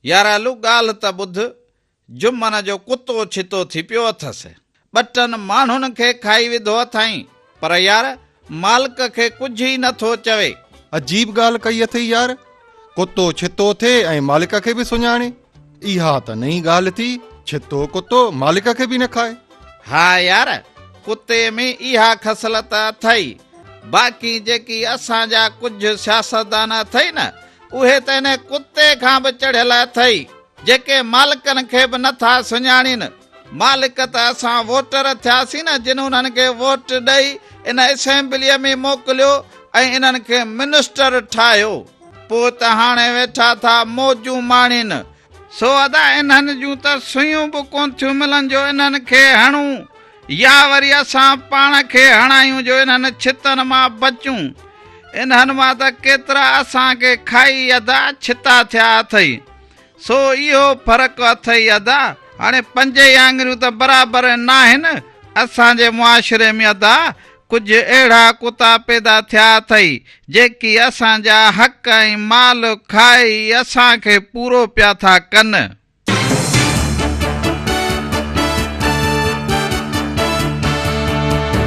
يارالو ڳالهه ته ٻڌ، جمن جو ڪتو ڇتو ٿي پيو اٿس. ٻٽن ماڻهن کي کائي وڌو اٿائين پر يار مالڪ کي ڪجهه ئي نه ٿو چوي. عجيب ڳالهه ڪئي اٿئي يار. ڪتو ڇتو ٿئي ۽ مالڪ کي به سڃاڻي. اها ته نئين ڳالهه ٿي ڇتو ڪتو مالڪ کي به نه کائي. ها يار ڪتي ۾ اها خصلت اٿئي باقي جيڪي اسان جا ڪجهه سياستدان اٿئي نه اهي ته هن ڪتي کان به چڙهيل اٿئي جيڪي مالڪن کي به نه ٿا سڃاڻين. مالڪ ته اسان ووٽر ٿياسين نه جن انهن کي ووٽ ڏئي ان اسيمبليء ۾ موڪليو ۽ انهن کي منسٽر ٺاهيو. پوء ته هاڻي ويٺا ٿا موجون ماڻين. سو ادا انهن جون ته سوئيون به ڪون ٿيون ملن جو انهن کي هڻون يا وري اسان پاڻ کي هڻايون جو انهن ڇتن مان بچون. انهن مان ته ڪيترا اسان کي کائي ادا ڇتا ٿيا اٿئي. سو اهو فرق اٿئي ادا، هاڻي پنج ئي آڱريون ته برابر ناهن، اسان جي معاشري ۾ ادا ڪجهه اهڙا ڪتا پيدا ٿيا اٿئي، جيڪي اسان جا حق ۽ مال کائي اسان کي پورو پيا ٿا ڪن.